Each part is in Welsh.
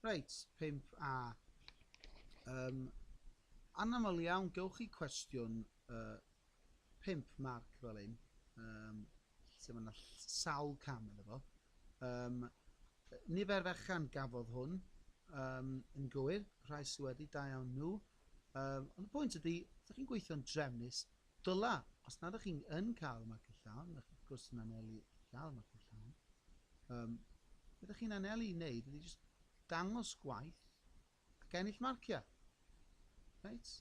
Reit, 5A. Ym anaml iawn, gewch chi cwestiwn uh, 5 marc fel hyn, um, lle mae yna sawl cam yn efo. Um, nifer fechan gafodd hwn um, yn gywir, rhai sydd wedi, da iawn nhw. Um, ond y pwynt ydy, ydych chi'n gweithio'n drefnus, Dyla, os nad ych chi yn cael marciau llawn, ych chi wrth gwrs yn anelu i gael marciau llawn. Um, be ydych chi'n anelu i wneud ydy jyst dangos gwaith ac ennill marciau. Right?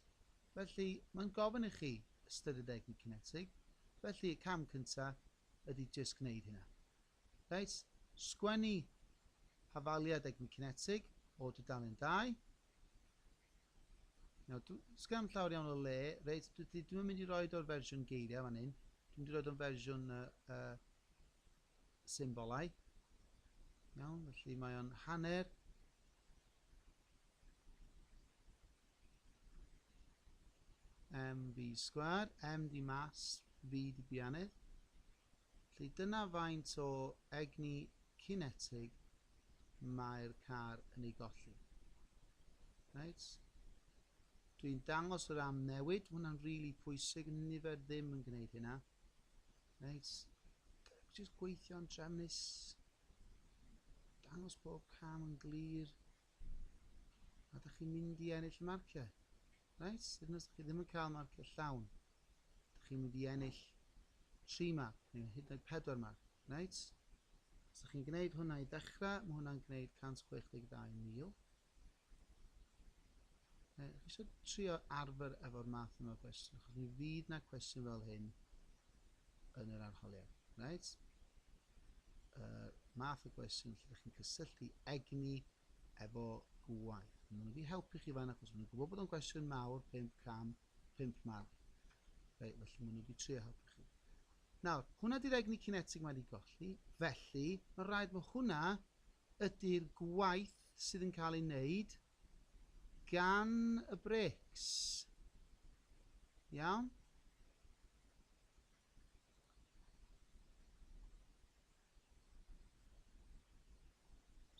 Felly, mae'n gofyn i chi ystyried egni cinetig, felly y cam cyntaf ydy jyst gwneud hynna. Reit, sgwennu hafaliad egni cinetig o dudalen 2. Nawr, dw- sgan llawer iawn o le, reit, dwi dwi ddim yn mynd i roi o'r fersiwn geiriau fan hyn, dwi'n mynd i roi o'n fersiwn uh, uh, symbolau. Iawn, felly mae o'n hanner mv sgwar, m di mas, v di bianedd. Felly dyna faint o egni cinetig mae'r car yn ei golli. Right? Dwi'n dangos yr am newid, hwnna'n rili really pwysig, nifer ddim yn gwneud hynna. Right? Just gweithio'n trefnus, dangos bob cam yn glir, Ydych chi'n mynd i ennill y marciau? Reit, hyd yn oes chi ddim yn cael marciau llawn, ydych chi'n mynd i ennill 3 marc neu hyd yn oed 4 marc. Reit? Os ydych chi'n gwneud hwnna i ddechrau, mae hwnna'n gwneud 162,000. Chi eisiau trio arfer efo'r math yma o gwestiwn, achos mi fydd na cwestiwn fel hyn yn yr arholiad. Reit? y math o gwestiwn lle ydych chi'n cysylltu egni efo gwaith. Mae nhw'n wedi helpu chi fan achos maen nhw'n gwybod bod o'n gwestiwn mawr, 5 cam, 5 marc. Reit, felly maen nhw wedi trio helpu chi. Nawr, hwnna di'r egni cinetig mae wedi golli, felly mae'n rhaid mae hwnna ydy'r gwaith sydd yn cael ei wneud gan y brics. Iawn?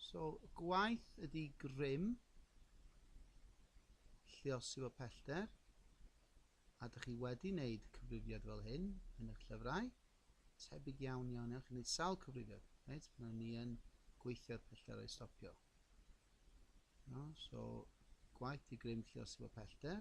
So gwaith ydi grym, lliosi fo pellter, a dych chi wedi wneud cyfrifiad fel hyn yn eich llyfrau, tebyg iawn iawn iawn, chi'n gwneud sawl cyfrifiad, reit, pan o'n ni yn gweithio'r pellter o'i stopio. No, so gwaith i grym lliosi fo pellter,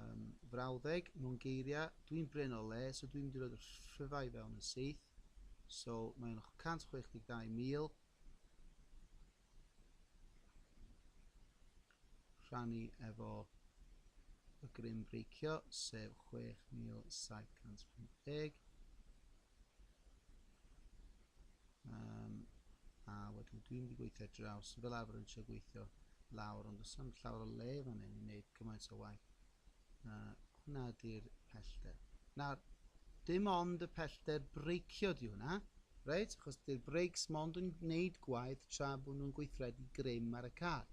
Um, frawddeg, mewn geiriau, dwi'n brin o le, so dwi'n mynd i roed y rhyfau fewn yn syth. So, mae'n 162,000. Rhannu efo y grym breicio, sef 6,750. Um, a wedyn dwi'n wedi gweithio draws, fel arfer yn eisiau gweithio lawr, ond os am llawer o le fan hyn i wneud cymaint o waith. Uh, hwna ydy'r pellter. Nawr, dim ond y pellter breicio di hwnna, reit? Achos dy'r breics mond yn gwneud gwaith tra bod nhw'n gweithredu grym ar y car.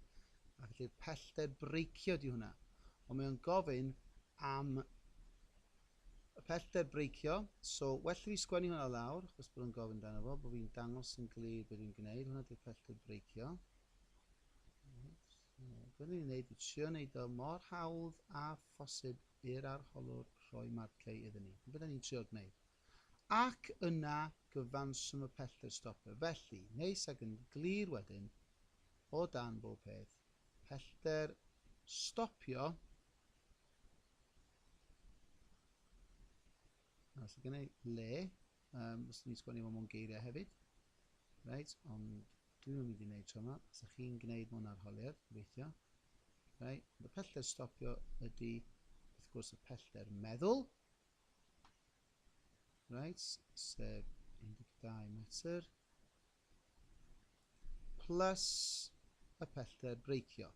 A felly'r pellter breicio di hwnna. Ond mae o'n gofyn am Y pellter breicio, so well i fi sgwennu hwnna lawr, achos bod yn gofyn dan fo, bod fi'n dangos yn glir beth fi'n gwneud, hwnna di'r pellter breicio. Gwneud ni'n gwneud, i trio wneud o mor hawdd a phosib i'r arholwr rhoi marciau iddyn ni. Beth ni'n trio gwneud. Ac yna gyfanswm y pellter stopio. Felly, neis ac yn glir wedyn, o dan bob peth, pellter stopio Nawr, so gynnau le, um, os ni'n sgwennu fo mewn geiriau hefyd. Reit, ond dwi ddim yn mynd i wneud tro yma. Os ydych chi'n gwneud mewn arholiad, gobeithio. Reit, ond y pellter stopio ydy, wrth gwrs, y pellter meddwl. Reit, sef 12 metr. Plus y pellter breicio.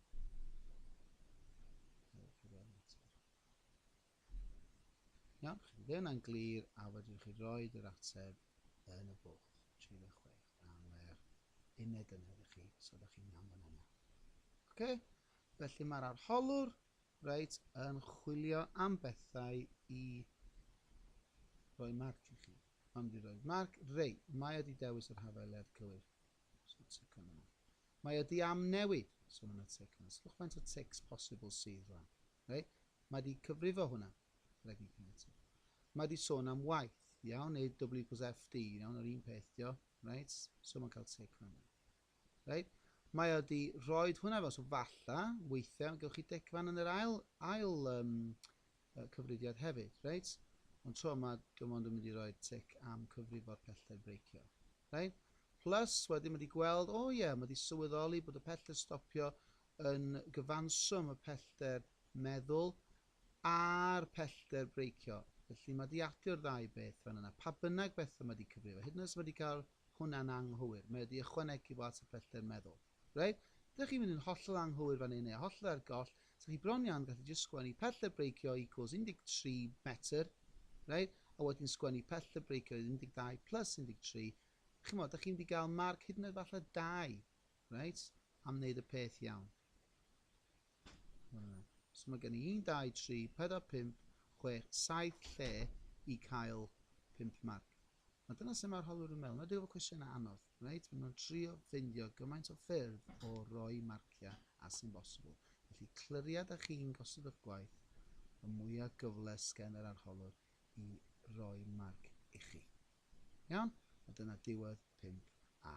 Iawn, chi ddim yna'n glir a wedyn chi roi yr ateb yn y bwlch 36 am yr uned yna ydych chi, so ydych chi'n iawn fan yna. Oce, felly mae'r arholwr reit yn chwilio am bethau i roi marc i chi. Ymddiroedd. Mark, Reit, mae o 'di dewis yr hafael leddf cywir. Swn y tecon yna. Mae o 'di amnewid! Swn yna tec yna. Sylwch faint o tecs posibl sydd rwan. Reit? Mae 'di cyfrifo hwnna. Rhaid ni cael eto. Mae 'di sôn am waith. Iawn, neu W plus FD. Iawn, yr un peth dio. Reit? So mae'n cael tec yna. Reit, mae o wedi rhoi hwnna fel, so falla, weithiau, gewch chi decfan yn yr ail, ail um, cyfrifiad hefyd, reit? Ond tro yma, dwi'n ond yn mynd i roi tic am cyfrifo'r pellter breicio. Reit? Plus, wedyn mae wedi gweld, o oh ie, yeah, mae wedi sylweddoli bod y pellter stopio yn gyfanswm y pellter meddwl a'r pellter breicio. Felly mae wedi adio'r ddau beth fan yna. Pa bynnag beth mae wedi cyfrifo, hyd yn oes mae wedi cael hwnna'n anghywir. Mae wedi ychwanegu fo at y pellter meddwl. Reit? Dych chi'n mynd yn hollol anghywir fan hyn neu hollol ar goll, sa chi bron iawn yn gallu jyst sgwennu pellter breicio equals 13 metr, reit? A wedyn sgwennu pellter breicio yw 12 plus 13. Chimod, dych chi'n mynd i gael marc hyd yn oed falle 2, reit? Am wneud y peth iawn. So mae gen i 1, 2, 3, 4, 5, 6, 7 lle i cael 5 marc. A dyna sut mae'r holwr yn meddwl. Wna i drio efo cwestiynau anodd, reit? Maen nhw'n trio ffeindio gymaint o ffyrdd o roi marciau as sy'n bosibl. Felly, clyriau da chi'n gosod eich gwaith, y mwyaf gyfle sgen yr arholwr i roi marc ichi. Iawn? A dyna diwedd 5A.